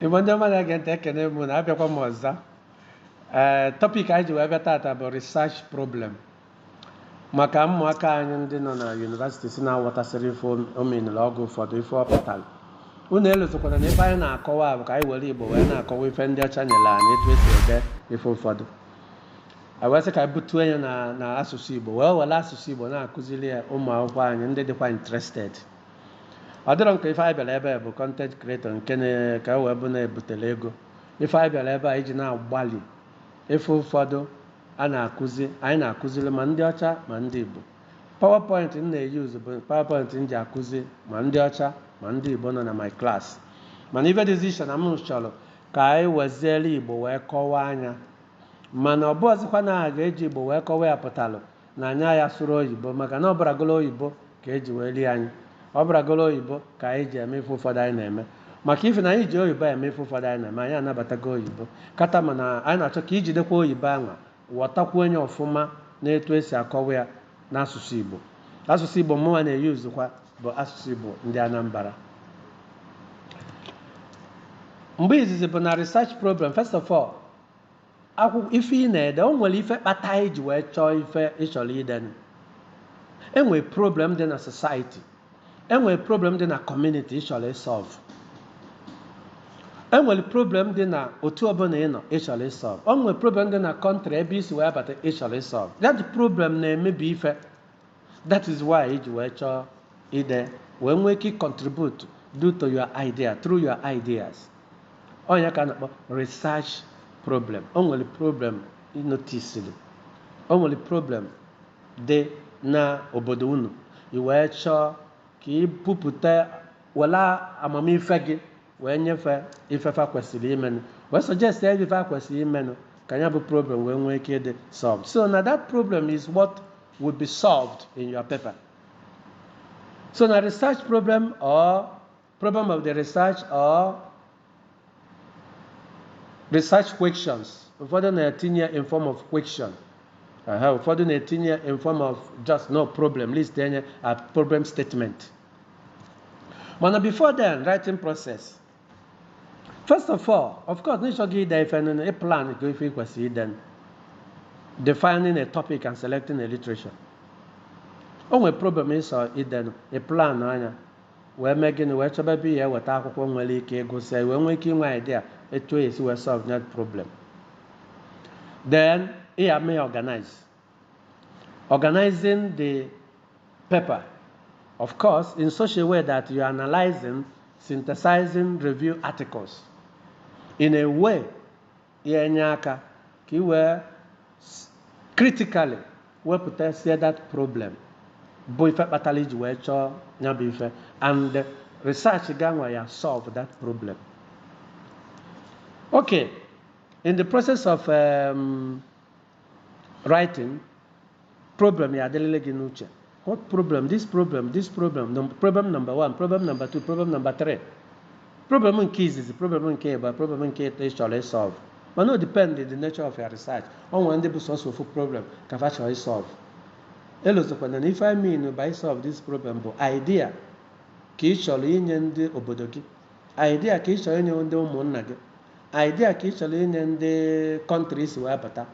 Igbo ndị ọma na-ege ntị ekene m unu abịakwa m ọzọ ee topic anyị ji wee bịa tata bụ research problem maka ụmụaka anyị ndị nọ na university si na-aghọtasịrị ife terminology ụfọdụ ife ọ pụtara unu elozokwana na ife anyị na-akọwa bụ ka anyị were igbo wee na-akọwa ife ndị ọcha nyere anyị etu esi ede ife ụfọdụ wee sị ka anyị butue ya na asụsụ igbo wee were asụsụ igbo na-akụziri ya ụmụ akwụkwọ anyị ndị dịkwa interested ọ dịrọ nke ife anyị bịara ebe a bụ content creator nke na- ka e wee bụ na-ebutela ego ife anyị bịara ebe a iji na-agbalị ife ụfọdụ a na-akụzi anyị na-akụziri ma ndị ọcha ma ndị igbo powerpoint m na-eyuzu bụ powerpoint m ji akụzi ma ndị ọcha ma ndị igbo nọ na my class mana ife dịzi iche na m chọrọ ka anyị weziere igbo wee kọwaa nya mana ọ bụrọzịkwa na a ga-eji igbo wee kọwaa ya pụtalụ na anyị aya-asụrọ oyibo maka na ọ bụrụgolu oyibo ka e ji wee rie anyị ọ bụrụgolu oyibo ka anyị ji eme ife ụfọdụ anyị na-eme maka ife na anyị ji oyibo eme ife ụfọdụ anyị na-eme anyị anabatago oyibo tata mana anyị na-achọ ka i jidekwa oyibo anwa ghọtakwuo nya ọfụma na etu esi akọwa ya n'asụsụ Igbo asụsụ Igbo mụnwa na-eyuzukwa bụ asụsụ Igbo ndị Anambra mgbe izizi bụ na research problem first of all akwụkwọ ife ị na-ede o nwere ife kpata i ji wee chọọ ife ị chọrọ ide enwere problem dị na society enwere problem dị na community ị chọrọ ịsọlvụ enwere problem dị na otu ọbụla ị nọ ị chọrọ ịsọlvụ o nwere problem dị na country ebe i si wee bata ị chọrọ ịsọlvụ that problem na-emebi ife that is why i ji wee chọọ ide wee nwee ike contribute due to your idea through your ideas ọ nya ka a na-akpọ research problem o nwere problem ị notisiri o nwere problem dị n'obodo unu i wee chọọ ka ị bupụta were amamife gị wee nye fa ife fa kwesịrị imenụ wee suggestịa ife fa kwesịrị imenụ ka nya bụ problem wee nwee ike ịdị solved so na that problem is what will be solved in your paper so na research problem or problem of the research or research questions ụfọdụ na-etinye in form of question aha ụfọdụ na-etinye in form of just no problem list enye a problem statement mana before then writing process first of all of course n'ịchọ gị ide ife nụnụ ị plan ka ife ị kwesịrị ide defining a topic and selecting a literature o nwere problem ị chọ idenụ ị plan nya wee mee gịnị wee chọba ebe ị ya eweta akwụkwọ nwere ike ịgụsịa i wee nwee ike inwe idea etu ị ya esi wee solve that problem then ị ya mee organize organizing the paper of course in such a way that you are analyzing synthesizing review articles in a way ya enye aka ka i wee critically wepụtasie that problem bụ ife kpatara i ji wee chọọ ya bụ ife and research gị anwa ya solve that problem okay in the process of um, writing Problem ya adịlịlị gị n'uche. What problem? This problem, this problem, num- problem number one, problem number two, problem number three. Problem nke izizi, problem nke ịba, problem nke ịtọ ị chọrọ ịsolve. Mana o depend on the nature of your research. O nwere ndị bụ sọsọ ofu problem ka fa chọrọ ịsolve. Elozokwana na ife I mean by solve this problem bụ idea ka ị chọrọ inye ndị obodo gị Idea ka ị chọrọ inye ndị ụmụnna gị. Idea ka ị chọrọ inye ndị country i si wee bata.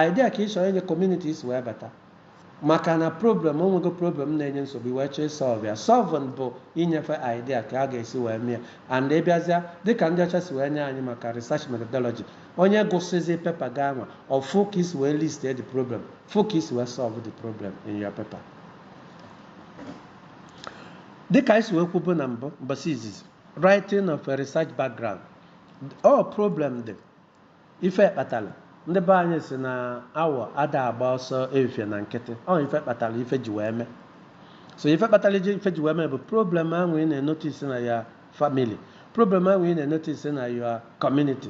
Idea ka ị chọrọ inye community i si wee bata. Maka na problem, o nwego problem na-enye nsogbu, i wee chọọ ịsolve ya. Solving bụ inye fa idea ka a ga-esi wee mee ya. And ị bịazịa, dịka ndị ọcha si wee nye anyị maka research methodology, onye gụsịzi paper gị anwa, ọ fụ ka i si wee list the problem, fụ ka i si wee solve the problem in your paper. dịka anyị si wee kwubu na mbụ mbọsị izizi writing of a research background ọ problem dị ife kpatara ndị be anyị sị na awọ ada agba ọsọ efifie na nkịtị ọ ife kpatara ife ji wee mee so ife kpatara iji ife ji wee mee bụ problem anwa ị na-enotice na your family problem anwa ị na-enotice na your community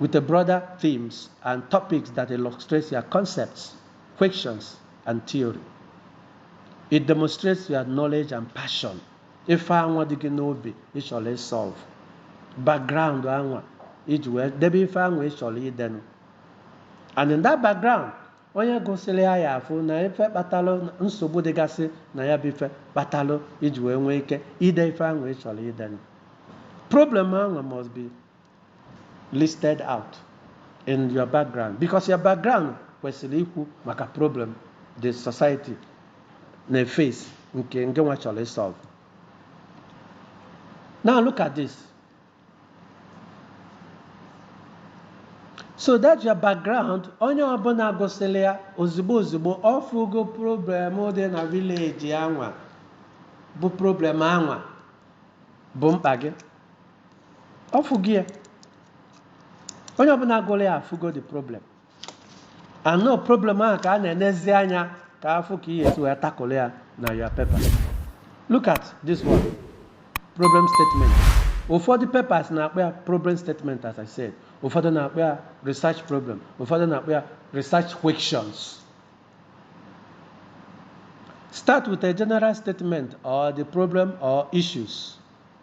with the broader themes and topics that illustrate your concepts, questions, and theory. It demonstrates your knowledge and passion. Ife anwa dị gị n'obi ị chọrọ ịsolve background anwa iji wee debe ife anwa ị chọrọ idenụ. And in that background, Onye gụsịrị ya ya afụ na ife kpatalụ nsogbu dịgasị na ya bụ ife kpatalụ i ji wee nwee ike ide ife anwa ị chọrọ idenụ. Problem anwa must be listed out in your background because your background kwesịrị ikwu maka problem the society na-eface nke ngịnwa chọrọ ịsolve. Now look at this. so that's your background onye ọbụla gụsịrị ya ozugbo ozugbo ọ fụgo problem dị na village anwa bụ problem anwa bụ mkpa gị ọ fụgo ya onye ọbụla gụrụ ya afụgo the problem and ọ problem ahụ ka a na-enezi anya ka a fụ ka i ya-esi wee tackle ya na your paper look at this one problem statement ụfọdụ papers na-akpọ ya problem statement as i said ụfọdụ na-akpọ ya research problem ụfọdụ na-akpọ ya research questions start with a general statement or the problem or issues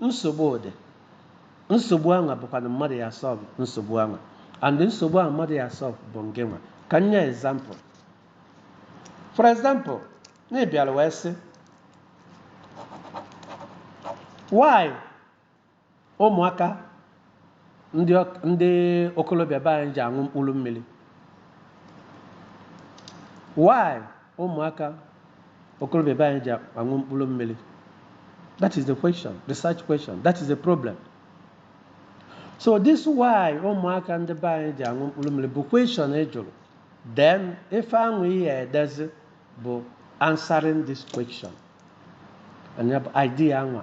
nsogbu dị nsogbu anwa bụkwanụ mmadụ ya solve nsogbu anwa and nsogbu ahụ mmadụ ya solve bụ nke anwa ka m nye example for example na ị bịalụ wee sị why ụmụaka ndị ọk- ndị okolobịa be anyị ji aṅụ mkpụrụ mmiri why ụmụaka okolobịa be anyị ji aṅụ mkpụrụ mmiri that is the question research question that is the problem so this why ụmụaka ndị be anyị ji aṅụ mkpụrụ mmiri bụ question ị jụrụ then ife ahụ i ya-edezi bụ answering this question and ya bụ idea anwa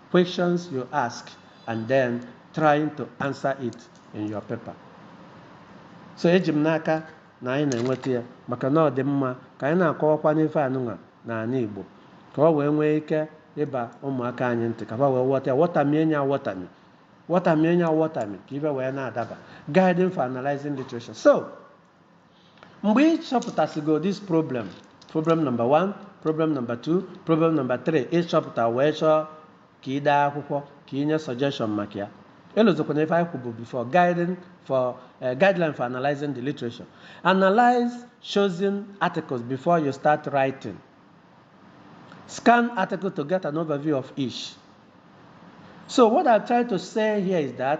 questions you ask and then trying to answer it in your paper. so eji m n'aka na anyị na-enweta ya maka na ọ dị mma ka anyị na-akọwakwanụ ife anụnwa n'ala Igbo ka ọ wee nwee ike ịba ụmụaka anyị ntị ka ha wee wọta ya wọtamie nya wọtami wọtamie nya wọtami ka ife wee na-adaba guiding for analyzing literature so mgbe ị chọpụtasịgo this problem problem number one problem number two problem number three ị chọpụta wee chọọ ka ị dee akwụkwọ ka ị nye suggestion maka ya elozokwana ife anyị kwubu before guiding for uh, guideline for analyzing the literature analyze chosen articles before you start writing scan article to get an overview of each so what i'm trying to say here is that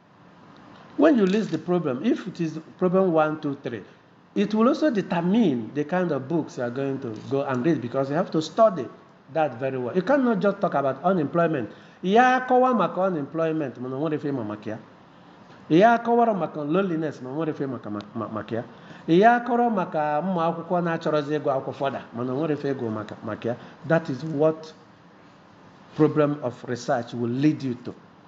When you list the problem, if it is problem one, two, three, it will also determine the kind of books you are going to go and read because you have to study that very well. You cannot just talk about unemployment. Ị ya-akọwa maka unemployment mana o nwerọ ife ị ma maka ya. Ị ya-akọwara maka loneliness mana o nwerọ ife ị ma maka ya. Ị ya-akọrọ maka ụmụ akwụkwọ na achọrọzi ịgụ akwụkwọ further mana o nwerọ ife ị gụ maka ya. That is what problem of research will lead you to.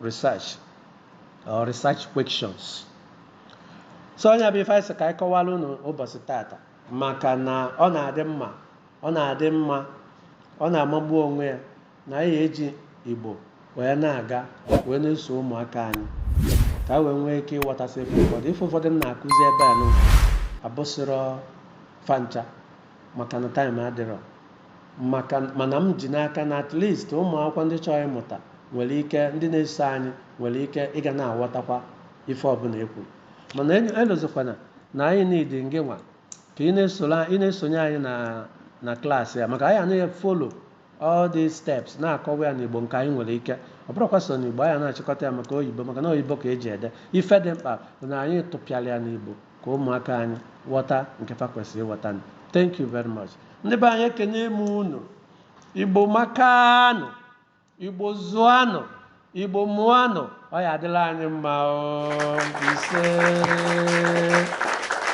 research or research questions so nya bụ ife anyị sị ka anyị kọwara unu ụbọchị tata maka na ọ na-adị mma ọ na-adị mma ọ na-amagbu onwe ya na anyị eji igbo wee na-aga wee na-eso ụmụaka anyị ka ha wee nwee ike ịwọtasị ife ụfọdụ ife ụfọdụ m na-akụzi ebe anụnwa abụsịrọ fa ncha maka na time adịrọ maka mana m ji n'aka na at least ụmụ akwụkwọ ndị chọrọ ịmụta nwere ike ndị na-eso anyị nwere ike ịga na-aghọtakwa ife ọbụla e kwuru mana enyo- elozọkwana na anyị need ngị nwa ka ị na-esoro ị na-esonye anyị na na class ya maka anyị na-afollow all these steps na-akọwa ya n'igbo nke anyị nwere ike ọ bụrọkwa sọ n'igbo anyị na-achịkọta ya maka oyibo maka na oyibo ka eji ede ife dị mkpa bụ na anyị tụpịara ya n'igbo ka ụmụaka anyị ghọta nke fa kwesịrị ịghọta thank you very much ndị be anyị ekene m unu igbo makanụ igbo zụanụ igbo mụanụ ọ ya adịla anyị mma ise